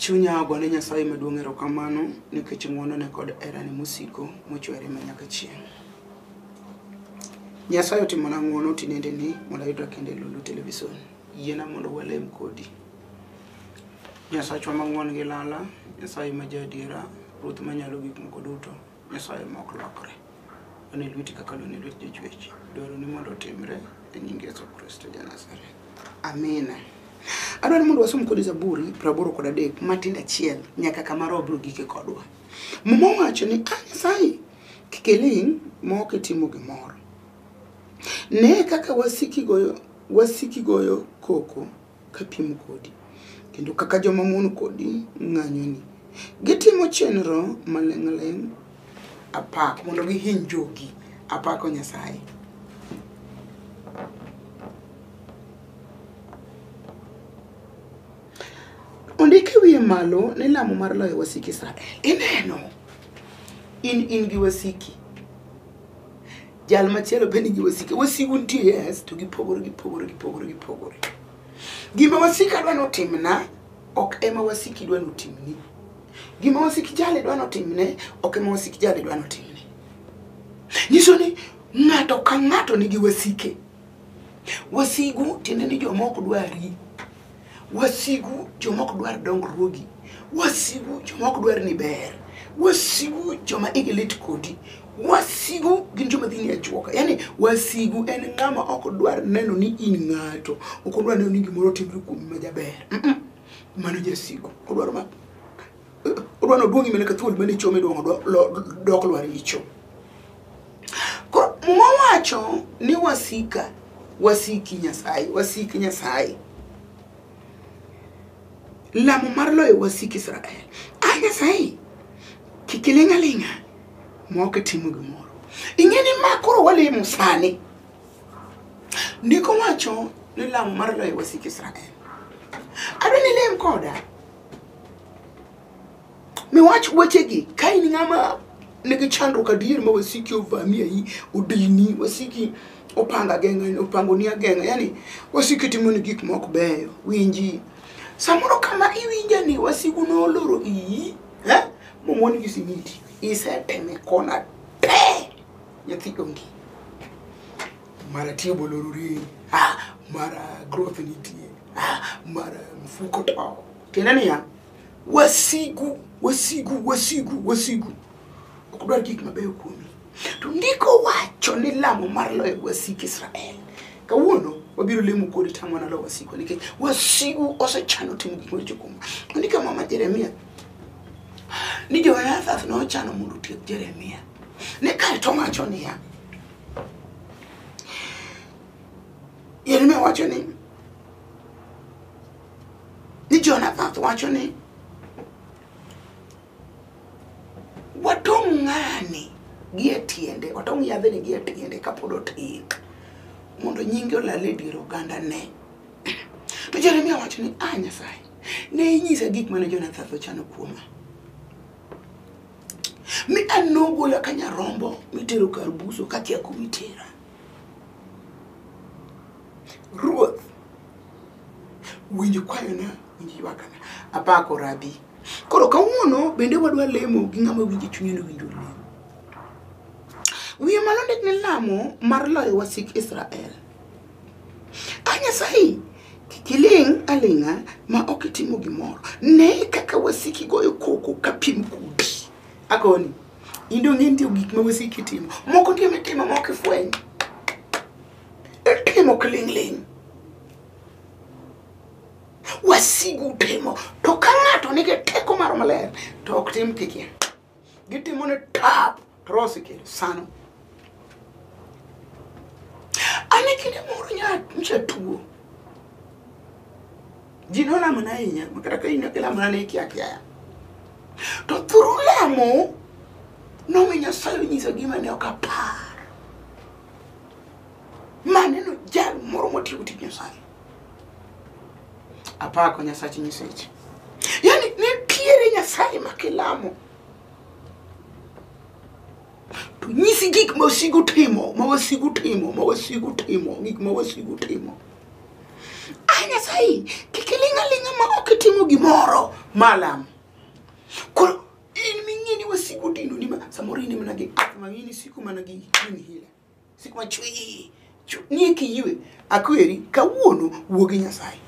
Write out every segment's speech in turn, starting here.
Chunya ogone Nyasaye maduong' erokamano nikech ng'wonone kod herane mosiko mochwere ma nyaka chieng'. Nyasaye otimona ng'wono tinendeni mondo ayudra kendo e Lulu Television. Yiena mondo walem kodi. Nyasachwa mang'won gi lala, Nyasaye ma jaadiera, Ruoth manyalo gik moko duto, Nyasaye ma ok lokre. Wan e lweti kaka lwen e lwet jochwech. Dwaroni mondo otimre e nying Yesu Kristo ja Nazareth. Amina. Adwaro mondo wasom kodi Zaburi praboro kod adek matindo achiel nyaka kama roho biro gike kodwa. Muma wacho ni a Nyasaye kik iling' ma ok itimo gimoro. Ne kaka wasiki goyo Wasiki goyo koko kapiem kodi, kendo kaka joma mon kodi ng'anyoni. Gitimo chenro maling'ling' apak mondo gihiny jogi. Apako Nyasaye. Ondik e wiye malo ni lamo mar loyo wasik Israel. Ineno, in in gi wasiki. jal machielo be nigi wasike wasigu nitie yes to gipogore gipogore gipogore gipogore gima wasika dwa notimna ok ema wasiki dwa notimni gima wasiki jali dwa notimne ok ema wasiki jali dwa notimne nyiso ni ng'ato ka ng'ato nigi wasike wasigu tiende ni jomoko dwari wasigu joma ok dwar dongruogi wasigu joma ok dwar ni ber wasigu joma igi lit kodi wasigu gin joma dhi ni ajuoka yani wasigu en ng'ama ok dwar neno ni in ng'ato ok odwar neno ni gimoro otimre kuomi majaber Mm-mm. mano jasigu odwaro ma odwa ni oduong' imene ka thuol mane ichome iduong' odwa- lo- dok lwar icho koro muma wacho ni wasika wasiki nyasaye wasiki nyasaye lamo mar loyo wasik israel a nyasaye kik iling' aling'a ma ok itimo gimoro ing'e ni ma koro walimo sani ndiko wacho ni lamo mar loyo wasik israel adwa ni lem koda miwach wechegi ka in ng'ama nigi chandruok adier ma wasiki ovami ayi odini wasiki opanga geng'a opango ni ageng'a yani wasiki timo ni gik mok beyo winji samoro kama iwinja ni wasigu noloro iyi eh? momoni gi simiti iseteme kona te nyathi onge mara tie bolo ruri ah, mara growth nitie ah, mara mfuko to tiende niya wasigu wasigu wasigu wasigu ok dwar gik mabeyo kuomi to ndiko wacho ni lamo mar loyo wasik israel kawuono wabiro lemo kodi tamo nalo wasiku nikech wasigu osechano timo gik maricho kuoma ondika mama jeremia ni jonathan nochano mondo otiek jeremia ne kae to wacho niya Yeremia wacho ni ni Jonathan wacho ni watong' ng'ani gi e tiende watong' yadhni gi e tiende kapod otin mondo nyinge olal e dier oganda ne to jeremia wacho ni a nyasaye ne inyisa gik mane jonathan ochano kuoma mi an nogola ka nyarombo mitero kar buso kakia kumitera ruoth winjo kwayona winjo ywakana apako rabi koro kawuono bende wadwa lemo gi ng'ama winjo chunye no winjo lemo wiye malo ndik ni lamo mar loyo wasik israel a nyasaye kik iling' aling'a ma ok itimo gimoro ne kaka wasiki goyo koko ka piem kudi akoni in dong' nitie gik ma wasiki timo moko nitie mitimo ma ok ifweny itimo kiling'ling' wasigu timo to ka ng'ato nigi teko maro maler to ok tim kikia gitimo ne tap to roho osekelo sano ane kinde moro nyacha tuo ji nolamona ahinya makata ka ina kilamona ne ikia kiaya to thuru lamo nomi nyasaye onyiso gima ne ok apar maneno jal moro motiyo tij nyasaye apako nyasach nyiseche yani nitiere nyasaye ma kilamo to nyisi gik ma wasigu timo ma wasigu timo ma wasigu timo gik ma wasigu timo a nyasaye kik iling' aling'a ma ok itimo gimoro malam koro in ming'e ni wasigu dino ni ma samoro in mana gi ath mang'ini siku mana gi in hila Sik ma chwi chwi ni e kiywe akweri kawuono wuo gi Nyasaye.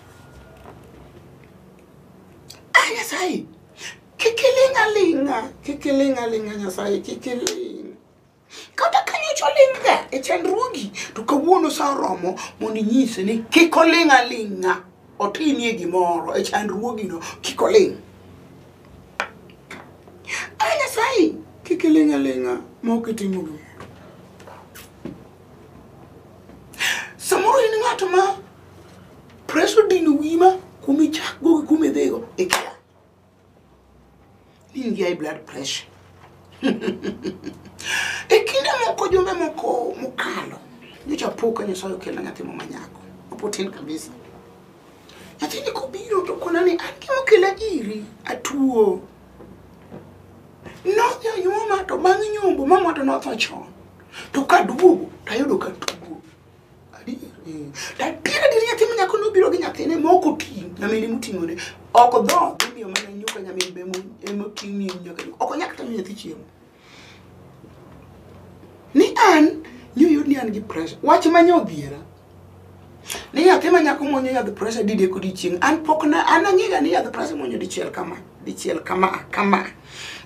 Ah Nyasaye kik iling' aling'a kik iling' aling'a Nyasaye kik iling'. Kata ka nyocha oling'ga e chandruogi to kawuono sa oromo mondo inyise ni kik oling' aling'a. otinie gimoro e chandruogino kik oling' a nyasaye kik iling' aling'a ma ok itimo gimoro samoro in ng'at ma preso dino wima kumichakgo gi kumidhigo ikia in gi high blood pressure e kinde moko jumbe moko mokalo nyocha po ka nyasaye okelna nyathi mama nyako opotin kabisa nyathini kobiro to kona ni an gima okela iri atuo nodhi onyuoma to bang' nyombo mamwa to notho chon to kaduogo tayudo katuo Adier adier nyathi ma nyako nobiro gi nyathine ma ok oting' nyamine moting'one ok dho imiyo mana nyuka nyamin be emoting' ni nyaka ok onyal kata miyo nyathi chiemo ni an nyoyud ni an gi pressure wach ma nyodhiera ni nyathi ma nyako mwonyo yadh pressure dide kodi chieng' an pok na an ang'ega ni yadh pressure mwonyo dichiel kama dichiel kama kama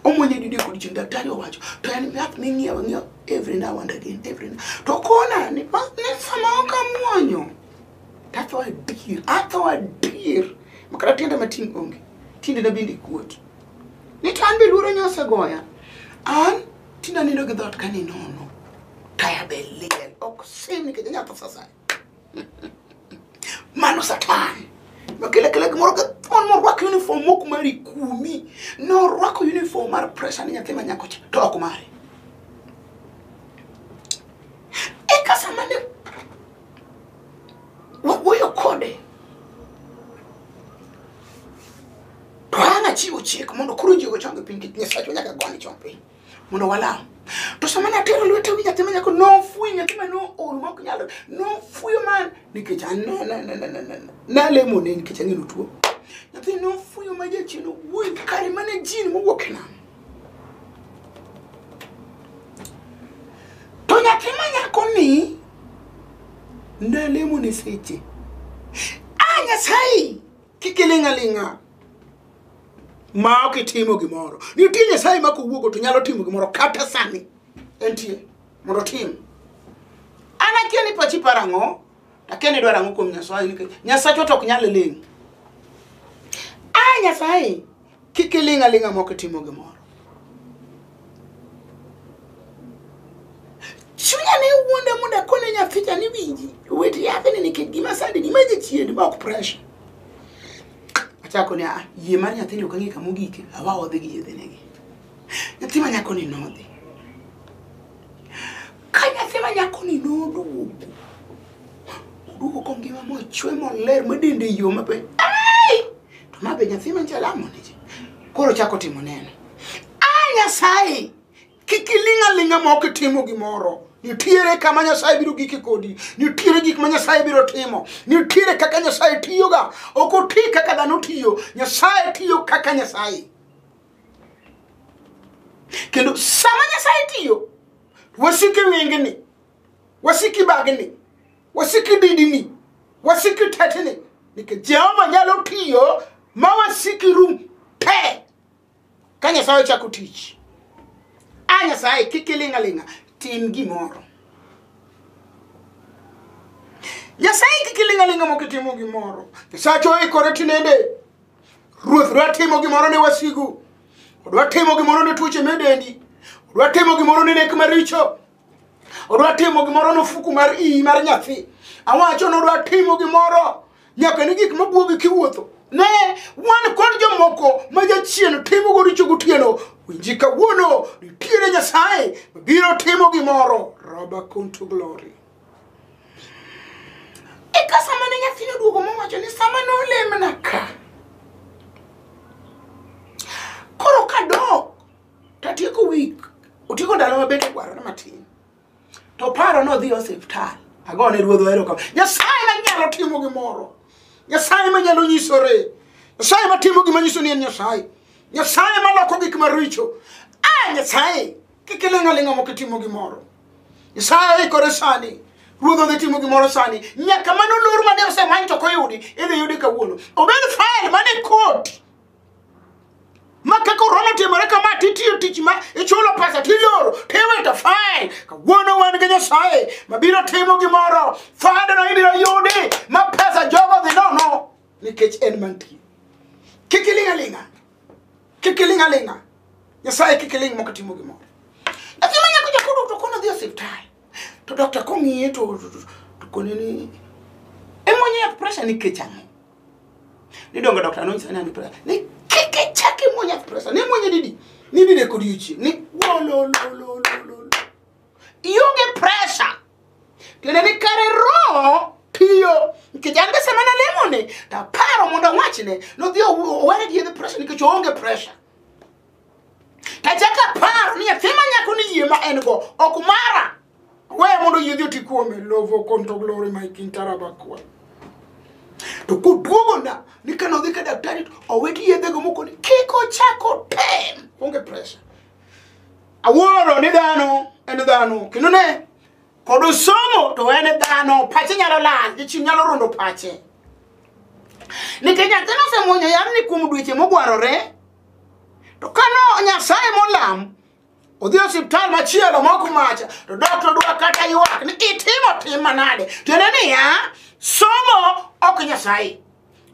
omwonyo dide kodi chieng' daktari owacho to en yath ming'iewo ng'iewo every now and again every now. to kona ni ma- ni sama ok amwonyo tatho adier atho adier makata tienda matin onge tiendena bende kuot ni to an be luoro nyosegoya an tinda nindo gi dhot ka ninono taya be liel ok sim nikech anyatho sasaya mano satan nokele kele gimoro ka thuon morwako uniform mok mari kumi norwako uniform mar pressure ni nyathi manyako cha to ok mare eka sama ne wawuoyo kode to an achiwo chik mondo koro ji ochang piny kit nyasacho nyaka gone chong piny mondo walam to sama natero lwete wi nyathi manyako nofwi nyathi ma nool maok nyal nofwiyo man nikech nalemone nikech ang'e notuo nyathi nofwiyo ma jachien owuoyi kare mana jin mowuok e nam to nyathi manyako ni nalemone seche a nyasaye kik iling'aling'a ma ok itimo gimoro nitie nyasaye ma kowuogo to nyalo timo gimoro kata sani entie mondo tim an akia ni pachi paro ang'o akia ni dwaro ang'o kuom nyasaye nikech nyasachwa to ok nyal ling' a nyasaye kik iling' aling'a ma ok itimo gimoro chunya ne wuonda mondo akone nyathija ni winji wet yathini nikech gima sandini ma jachien ma ok pressure achako ni ah, yie mar nyathini ok ang'e kama ogike awa odhi gi yedhenegi nyathi ma nyakoni nodhi ka nyathi ma nyakoni noduogo oduogo kongima mochwe moler madende yo mabe to mabe nyathi manchalamone koro chako timo neno a ah, nyasaye kik iling' aling'a ma ok itimo gimoro nitiere kama nyasaye biro giki kodi nitiere gik ma nyasaye biro timo nitiere kaka nyasaye tiyoga ok oti kaka dhano tiyo nyasaye tiyo kaka nyasaye kendo sama nyasaye tiyo wasiki wengeni wasiki bagni wasiki didini wasiki tetini nikech jehova nyalo tiyo ma wasiki rum te ka nyasaye ochako tich a nyasaye kik ilinga linga tim gimoro nyasaye kik ilinga linga mok itimo gimoro nyasacho oikore tinende ruoth dwa timo gimoro ne wasigu odwa timo gimoro ne tuoche medendi odwa timo gimoro ne nek maricho odwa timo gimoro nofuku mar iyi mar nyathi awacho nodwa timo gimoro nyaka ni gik mabwogi kiwuotho ne wan kod jomoko ma jachien timo go richo gotieno winji kawuono nitiere nyasaye mabiro timo gimoro roba conto glory eka sama ne nyathino duogo mowacho ni sama nolemna ka koro kadok tatieko wik otieko ndalo mabet ogwarore matin to paro nodhi e osiptal agone ruodho eroko nyasaye manyalo timo gimoro nyasaye manyalo nyisore nyasaye matimo gima nyiso ni en nyasaye nyasaye maloko gik maricho a nyasaye kik iling'aling'a mok itimo gimoro nyasaye oikore sani ruodho dhi timo gimoro sani nyaka mano lor mane osemany to koyudi idhi yudi kawuono obed fael mane koti ma ka korona otimore kama titiyo tich ma ichulo pesa tiloro tiwito fain kawuono wan gi nyasaye mabiro timo gimoro fadeno ibiro yudi ma pesa jogo dhi nono nikech en mantie kik iling' aling'a kik iling' aling'a nyasaye kik iling' mok timo gimoro nyathi ma nyako jakodo to kono dhi e osiptal to dokta kong'iye to to- to- to kone ni imonye yath pressure nikech ang'o ni dongo dokta nonyisa ni an gi presa ni kik ichak imuony yath presa ne muonye didi ni dide kod yuchi ni wolololololo ionge presa tiende ni kare roho piyo nikech an be sama nalemone taparo mondo awachne nodhi ow- owere gi yedhe presa nikech oonge presa Tachako aparo ni nyathi ma nyako ni yie ma en go ok mara. Weya mondo yie joti kuome lovo konto glory my king tarabakwa. To koduogo na ni kano dhi ka daktari to oweti yedhe go moko ni kik ochako tem. Onge pressure. Awuoro ni dhano en dhano kendo ne kod osomo to en dhano pache nyalo lal jachim nyalo rondo pache nikech nyathino osemwonyo yamni kuom dweche mogwarore to kano nyasaye molam odhi e osiptal machielo moko macha to doktor dwa kata ywak ni itimo tim manade tiende niya somo ok nyasaye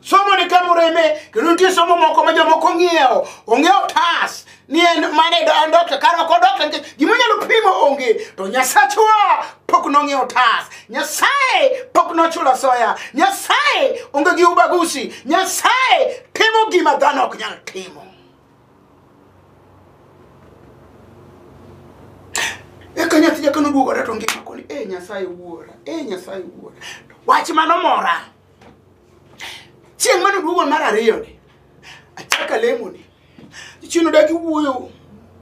somo ni kama oreme kendo nitie somo moko ma jomoko ng'iewo onge otas ni en mane en dokta kar ok odokta nikech gima nyalo pimo onge to nyasachwa pok nong'iewo otas nyasaye pok nochulo asoya nyasaye onge gi ubagusi nyasaye timo gima dhano ok nyal timo eka nyathi jakano duogore to ngima koni e nyasaye wuora e nyasaye wuora wach mano mora chieng' mane duogo mar ariyoni achaka lemoni Chieng' odagi wuoyo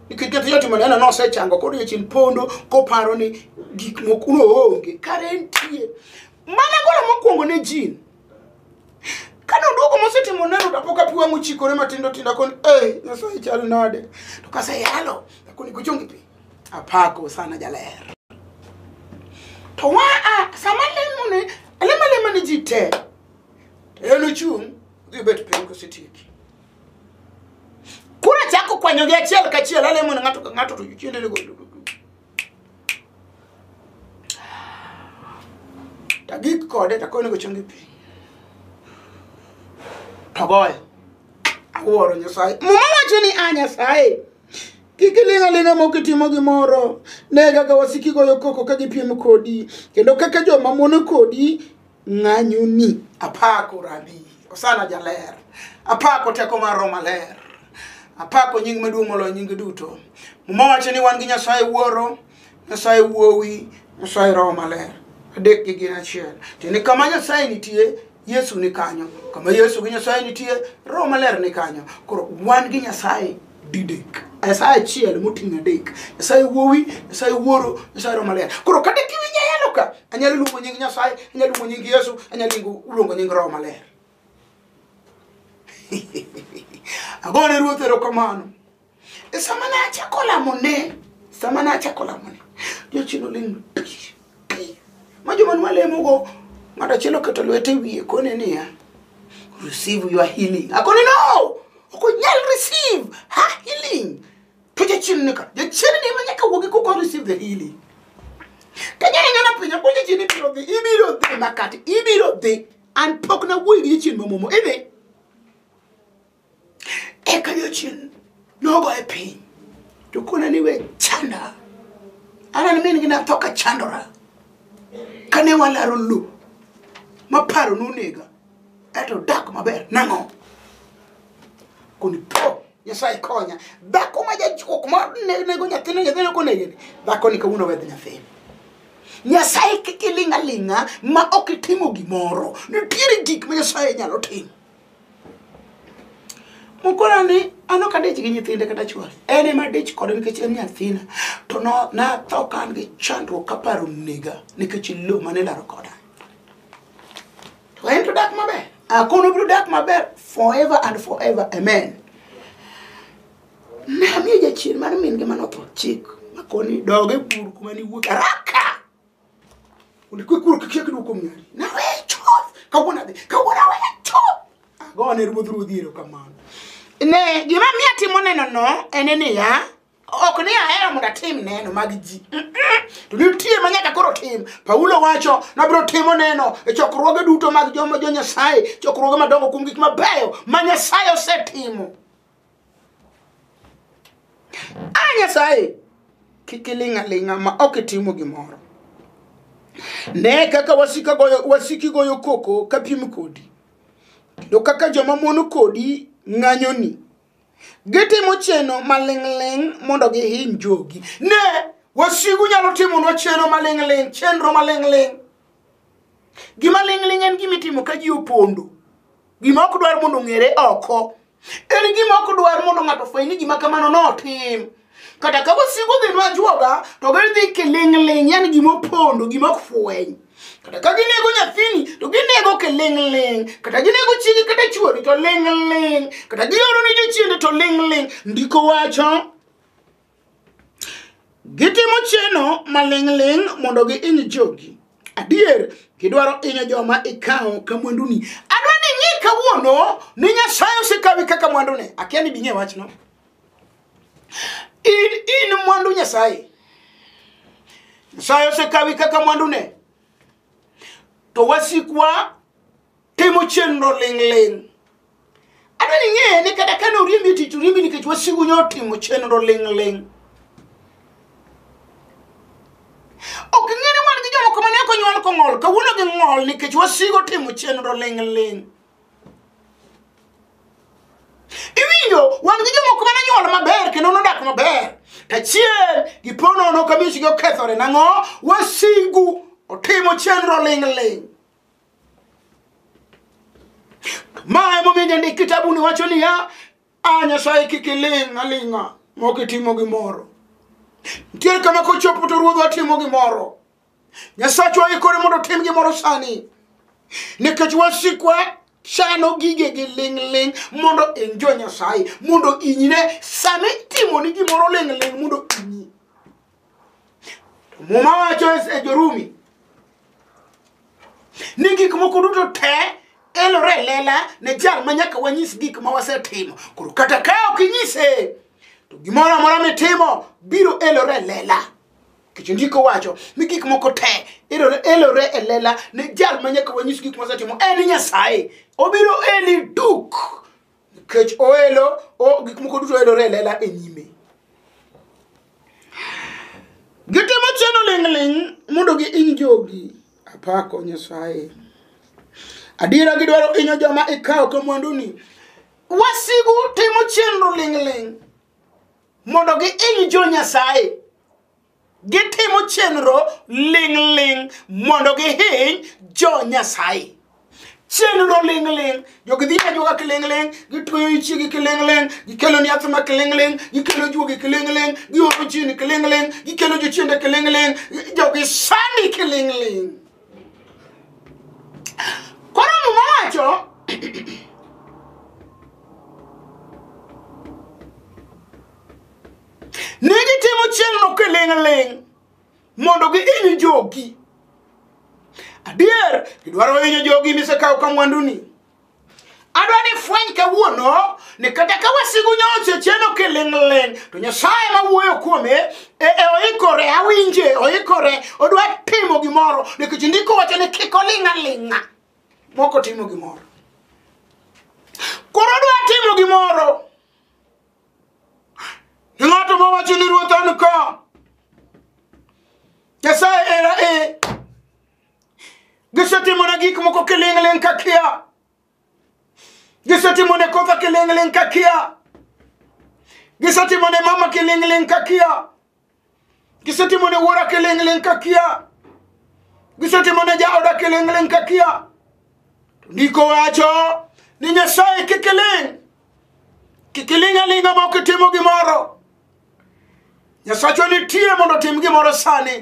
nikech kata jatimo neno ni osechango koro jachien pondo koparo ni gik moko noonge kare nitie mana golo mokwongo ne jin kane oduogo mosetimo neno to pok apiwa mochikore matindo tindo koni e nyasaye chal nade to kaseyalo akoni kuchungi pi apako sana jaler to wa a sama lemo ne alemo alema ne ji te to en ochung' dhi bet piny kosetieki Koro achako kwanyogi achiel kachiel, alemo ne ng'ato ka ng'ato to jochiende lego. Tagik kode takone go chongi piny. Togoyo. Awuoro Nyasaye. Muma wacho ni a Nyasaye. Kik iling' aling'a mok itimo gimoro. Ne kaka wasiki goyo koko ka gipiem kodi, kendo kaka joma mono kodi ng'anyoni apako rabi osana jaler apako teko mar roho maler apako nying maduong' moloyo nyinge duto muma wacho ni wan gi nyasaye wuoro nyasaye wuowi nyasaye roho maler adek gi gin achiel tiende kama nyasaye nitie yesu ni kanyo kama yesu gi nyasaye nitie roho maler ni kanyo koro wan gi nyasaye didek nyasaye achiel moting'o adek nyasaye wuowi nyasaye wuoro nyasaye roho maler koro kata kiwinjo ayalo ka anyalo luongo nying nyasaye anyalo luongo nying yesu anyalo luongo- luongo nying roho maler agone ruoth erokamano e sama ne achako lamone sama ne achako lamone jochien oling' tich Pi ma joma nwa lemogo ng'ato achiel oketo lwete wiye kone niya receive your healing akone no ok onyal receive her healing to jachien nika jachien ni ma nyaka wuogi koko receive the healing kanyanyana pinya ko jachien ibiro dhi ibiro dhi makati ibiro dhi an pok nawuoyi gi jachien mamomo idhi Eka jochien nogoye piny to kona ni we chanda anan min gi natho ka chandora kane walaro lowo maparo nonega eto dak maber nang'o koni po nyasaye konya dhako ma jajuok ma ne- nego nyathine nyathine konegene dhako ni kawuono wedh nyathine nyasaye kik iling' aling'a ma ok itimo gimoro nitiere gik ma nyasaye nyalo timo mukora ni an ok adich gi nyithinde kata chwore en ema adich kode nikech en nyathina to no- natho ka an gi chandruok kaparo nega nikech lo mane laro koda to en to dak maber akono biro dak maber forever and forever amen namiyo jachien mar min gi manotho chik makoni doge bur kuma niwuok araka Ulikwikuru kikiek duko mnyari. Na wecho. Kawona de. Kawona wecho. Agone ruodh ruodhi ero kamano. Ne gima miya timo neno no en ni ya ok ni ahero mondo atim neno mag ji to nitie ma nyaka koro tim paulo wacho nabiro timo neno e chokruoge duto mag joma jo nyasaye chokruoge madongo kuom gik mabeyo ma nyasaye osetimo a nyasaye kik iling' aling'a ma ok itimo gimoro ne kaka wasika goyo wasiki goyo koko ka piem kodi kendo kaka joma mono kodi ng'anyoni gitimo cheno maling'ling' mondo gihiny jogi ne wasigu nyalo timonwa cheno maling'ling' chenro maling'ling' gima ling'ling' en gima itimo ka ji opondo gima ok dwar mondo ong'ere oko en gima ok dwar mondo ng'ato fweny ni gima kamano notim kata ka wasigu dhi nwajuoga to gidhi kiling'ling' yani gima opondo gima ok fweny kata ka ginego nyathini to ginego kiling'ling' kata ginego chiege kata chuori to ling'ling' kata gioro ni jochiende to ling'ling' ndiko wacho Gitimo cheno maling'ling' mondo giiny jogi. Adier, gidwaro inyo joma ikawo ka mwanduni. Adwa ni ing'e kawuono ni Nyasaye osekawi kaka mwandune. Akia ni bing'e wachno. In, in mwandu Nyasaye. Nyasaye osekawi kaka mwandune. To wasikwa timo chenro ling'ling' adwa ni ing'eye ni kata kane oriembi e tich oriembi nikech wasigu nyo otimo chenro ling'ling' ok ing'e ni wan gi jomoko mane ok onyuol kong'ol kawuono gi ng'ol nikech wasigo timo chenro ling'ling' iwinjo wan gi jomoko mane nyuol maber kendo nodak maber tachiel giponono ka miechgi okethore nang'o wasigu otimo chenro ling'ling' ma emomiyo jandik kitabuni wacho niya a nyasaye kik iling' aling'a mok itimo gimoro ntiere kama kochopo to ruodhwa timo gimoro nyasachwa ikore mondo tim gimoro sani nikech wasikwa chano gige gi ling'ling' mondo injo nyasaye mondo inyine sami timoni gimoro ling'ling' mondo inyi To Muma wacho e Jorumi ni gik moko duto te elore e lela ne jal ma nyaka wanyis gik ma wasetimo. Koro kata ka ok inyise, to gimoro amora mitimo biro elore e lela. Kech ndiko wacho ni gik moko te elore elore e lela ne jal ma nyaka wanyis gik ma wasetimo. En Nyasaye. Obiro eli duk kech oelo o gik moko duto elore elela e nyime gitimo cheno ling'ling mondo gi iny jogi apako nyasaye adiera gidwaro inyo joma ikawo ka mwanduni wasigu timo chenro ling'ling mondo gi iny jo nyasaye Gitimo chenro ling'ling' mondo gihiny jo Nyasaye. Chenro ling'ling', jogi dhi ajuoga kiling'ling', gitweyo ichigi kiling'ling', gikelo ni yath ma kiling'ling', gikelo juogi kiling'ling', gioro jini kiling'ling', gikelo jochiende kiling'ling', jogi sani kiling'ling'. Koro muma wacho Ne gitimo chenro kiling' ling' mondo gihiny jogi. Adier, gidwaro hinyo jogi misekawo ka mwanduni. Adwa ni fweny kawuono ni kata ka wasigu nyocha cheno kiling'ling' to Nyasaye ma wuoyo kuome e, e oikore awinje oikore odwa timo gimoro nikech ndiko wacho ni kik oling' aling'a moko timo gimoro koro odwa timo gimoro E ng'ato ma wacho ni ruoth an ka. Nyasaye era e. Gisetimona gik moko kiling'ling' ka kia. Gisetimone kotha kiling'ling' ka kia. Gisetimone mama kiling'ling' ka kia. gisatimo ne wuora keleng'leng' ka kia gisatimo ne jaoda keleng'leng' ka kia to ndiko wacho ni nyasaye kik iling' kik iling' aling'a ma ok itimo gimoro nyasachwa nitie mondo otim gimoro sani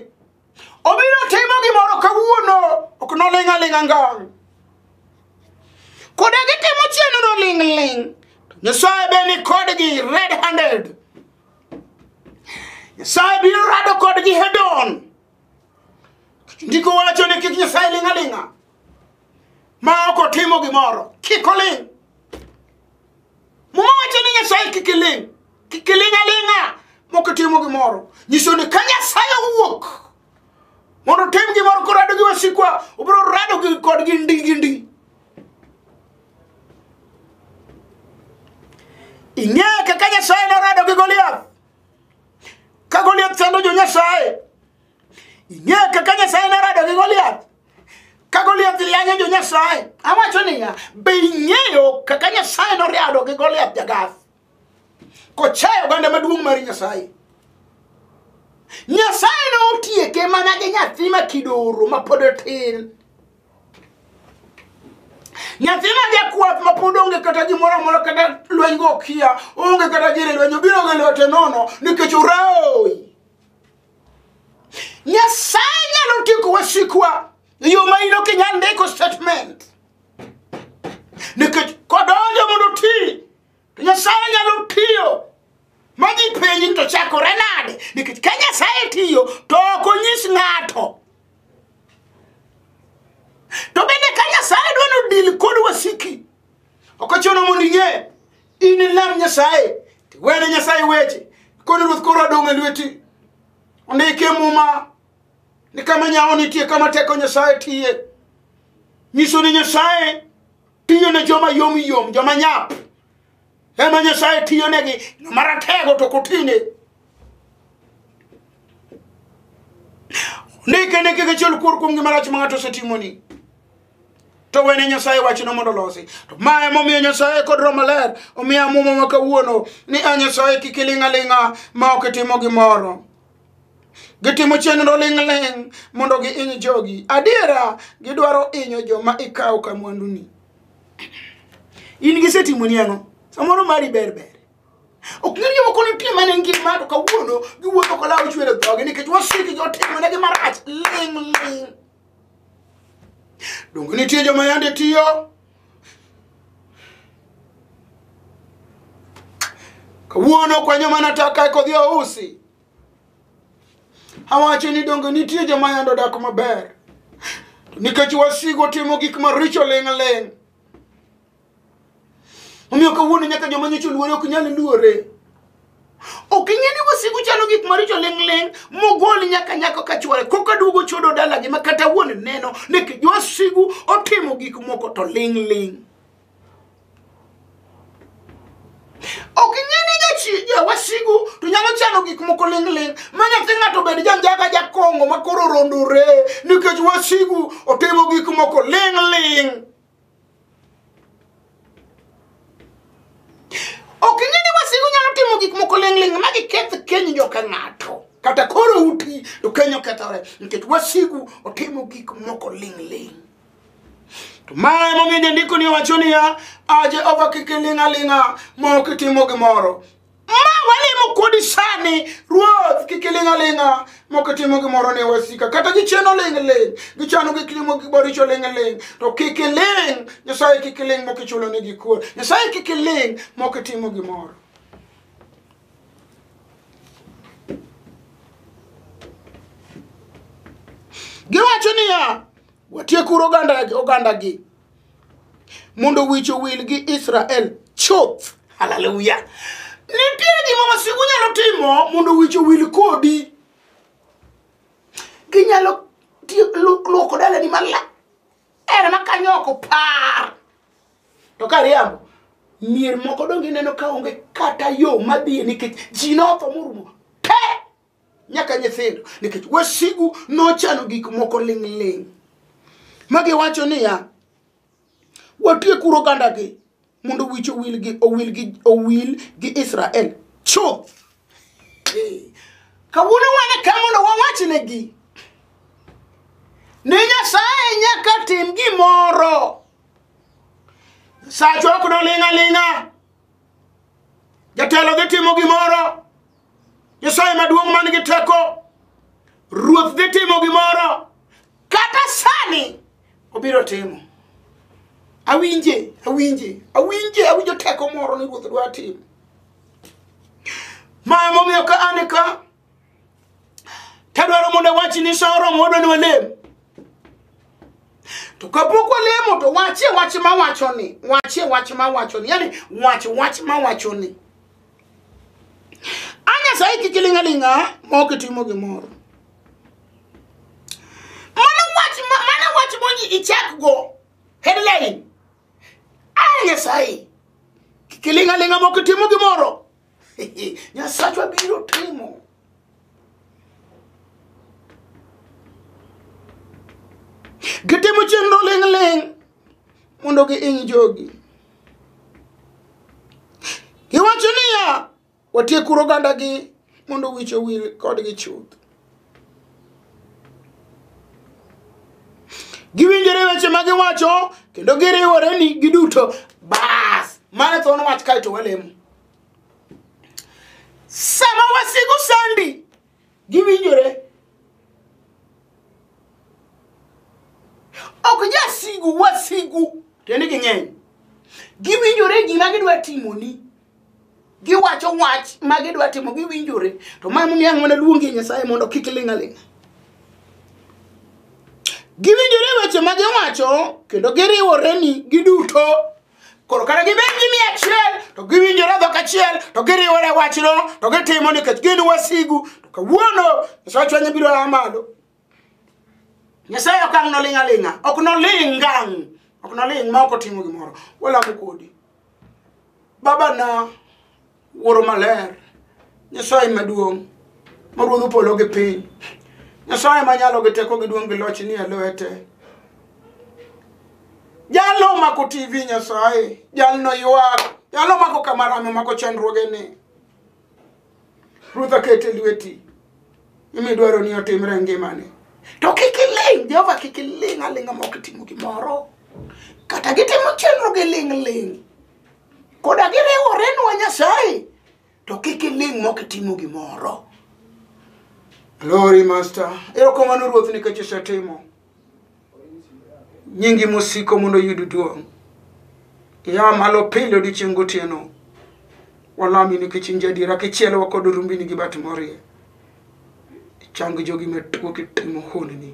obiro timo gimoro kawuono ok noling' aling'a ngang' kode gitimo chenro ling'ling' to nyasaye be ni kodgi red handed nyasaye biro rado kodgi hedon ndiko wacho ni kik nyasaye ling' aling'a ma ok otimo gimoro kik oling' muma wacho ni nyasaye kik iling' kik iling' aling'a mok itimo gimoro nyiso ni ka nyasaye owuok mondo otim gimoro korado gi wasikwa obiro rado gi- kodgi ndi gi ndi ing'e kaka nyasaye norado gi goliath ka goliath sando jo nyasaye ing'e kaka nyasaye norado gi goliath ka goliath yanyo jo nyasaye awacho niya be ing'eyo kaka nyasaye norado gi goliath jagath kochayo oganda maduong' mar nyasaye nyasaye ne otieke mana gi nyathi ma kidoro ma pod otin nyathi ma jakwath ma pod onge kata gimoro amora kata lweny go okia onge kata gire lweny obiro gi lwete nono nikech oroi nyasaye nyalo tieko wasikwa e yo ma in ok inyal ndiko statement nikech kodonjo mondo oti to nyasaye nyalo tiyo ma ji penji ni to chakore nade nikech ka nyasaye tiyo to ok onyis ng'ato to bende ka nyasaye dwa ni odil kod wasiki ok ochuno mondo ing'e in ilam nyasaye tiwene nyasaye weche koni ruoth koro adong' e lweti ondike muma ni kama nyawo nitie kama teko nyasaye tiye nyiso ni nyasaye tiyo ne joma yom yom joma nyap ema nyasaye tiyo negi maratego to kotine ndike ne kik ichul kuor kuom gima rach ma ng'ato osetimoni to wene nyasaye wachno mondo olosi to ma emomiyo nyasaye kod roho maler omiyo amuma ma kawuono ni a nyasaye kik iling' aling'a ma ok itimo gimoro gitimo chenro ling'ling' mondo giiny jogi adiera gidwaro inyo joma ikawo ka mwanduni in gisetimo ni ang'o samoro mari ber ber ok ng'e joma kono nitie mane ngima to kawuono giwuotho kolawo chwero dhogi nikech wasiki jotimonegi marach ling'ling' donge nitie joma yande tiyo kawuono kwenyo mana taka e kodhi ousi awacho ni donge nitie joma yando dak maber To nikech wasigo timo gik maricho ling'ling omiyo kawuono nyaka joma nyocha oluore ok nyal luore ok ing'e ni wasigu chalo gik maricho ling'ling' mogol nyaka nyako ka chwore koka duogo chodo dalagi ma kata wuon neno ni wasigu otimo gik moko to ling'ling' ok ing'e ni jachi- ja- wasigu to nyalo chano gik moko ling'ling' ma nyathi ng'ato bed janjaga jakong'o ma koro rondore nikech wasigu otimo gik moko ling'ling' ok ing'e ni wasigu nyalo timo gik moko ling'ling' ma giketh keny jo ka ng'ato kata koro uti to keny okethore nikech wasigu otimo gik moko ling'ling' to ma emomiyo jandiko ni owacho niya a jehova kik iling'aling'a ma ok itimo gimoro ma walimo kodi sani ruoth kik iling'aling'a mok itimo gimoro ne wasika kata gicheno ling'ling' gichano gik limo giboricho ling'ling' to kik iling' nyasaye kik iling' mok ichulo ne gikuo nyasaye kik iling' mok itimo gimoro giwacho niya watiekuru oganda- ogandagi mondo wich owil gi israel chuth haleluya nitie gima wasigu nyalo timo mondo wich owil kodi ginyalo ti- lu- luoko dalani maler ere ma kanyo ok opar to ka riambo mier moko donge ineno ka onge kata yo madhiye nikech ji notho morumo te nyaka nyithindo nikech wasigu nochano gik moko ling'ling' ma giwacho niya watiekuru ogandagi mondo wich owil gi owil gi owil gi israel chuth Eh, kawuono wane ka mondo wawachnegi ni nyasaye nyaka tim gimoro sachwa ok noling'a ling'a jatelo dhi timo gimoro Nyasaye maduong' man gi teko, Ruoth dhi timo gimoro, kata sani obiro timo. Awinje, awinje, awinje, awinjo teko moro ni Ruoth dwa timo. Ma emomiyo ka an ka, tadwaro mondo awachi ni sa oromo wadwa ni walem. To kapok walemo to wachie wach mawachoni, wachie wach mawachoni, yani wach wach mawachoni. anyasaye kik ilinga linga maok itimo gimoro mano wach mano wach monyi ichak go headline a nyasaye kik ilinga linga maok itimo gimoro nyasachwa biro timo gitimo chenro ling ling mondo giiny jogi. Giwacho niya, watiek kuro ogandagi mondo wich owil kodgi chuth. Giwinjore weche ma giwacho kendo giriwore ni giduto bas mane thuon wach kaeto walemo. Sama wasigu sandi giwinjore ok jasigu wasigu tiende ging'eny giwinjore gima gidwa timoni giwacho wach ma gidwa timo giwinjore to ma momiyo ang' mana luongi nyasaye mondo kik ling' aling' giwinjore weche ma giwacho kendo giriworeni giduto koro kata gibed gi mia achiel to giwinjore dhok achiel to giriwore wachno to gitimo nikech gin wasigu to kawuono nyasaye chwenye biro a malo nyasaye ok ang' noling' aling'a ok noling' ngang' ok noling' ma ok otimo gimoro walamo kodi babana wuoro maler nyasaye maduong' ma ruodho polo gi piny nyasaye manyalo gi teko gi duong' gi loch ni e lwete jalo mako tv nyasaye jalno ywak jalo mako kamarame mako chandruoge ni ruodh akete lweti imidwaro ni otimre ngimane to kik iling jehova kik iling aling'a ma ok itimo gimoro kata gitimo chenro gi ling' ling' koda giriworenwa nyasaye to kik iling' mok itimo gimoro glory master erokamano ruoth nikech isetimo nyingi mosiko mondo oyud duong' ia malo pile odiochieng' gotieno walami nikech in jadiera kichielowa kod rumbini gi bat morie Chang jogi matuo kitimo honni.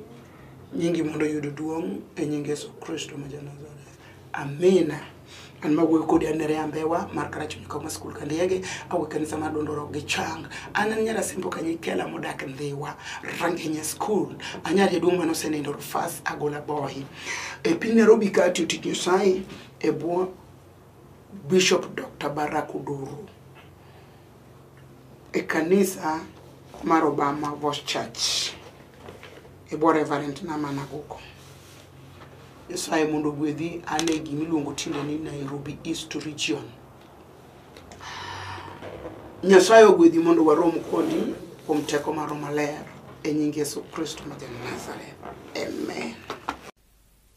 Nyingi mondo oyud duong' e nying Yesu Kristo ma Janazareth. Amina. An ma wuoyo kodi anere ambewa mar karachunyi kama skul ka ndiege awe kanisa mar dondoro gi chang an an nyara simbo kanyi kela modak ndhiwa rangenya skul anyar jaduong' mane osenindo rufas agola boy e piny Nairobi ka atiyo tich Nyasaye e bwo Bishop Dr. Barack Odoro e kanisa mar Obama Voice Church e bwo Reverend Nama Naguko. Nyasaye mondo ogwedhi an e gima iluongo tinde ni Nairobi East Region. Nyasaye ogwedhi mondo warom kodi kuom teko maro maler e nying Yesu Kristo ma ja Nazareth. Amen.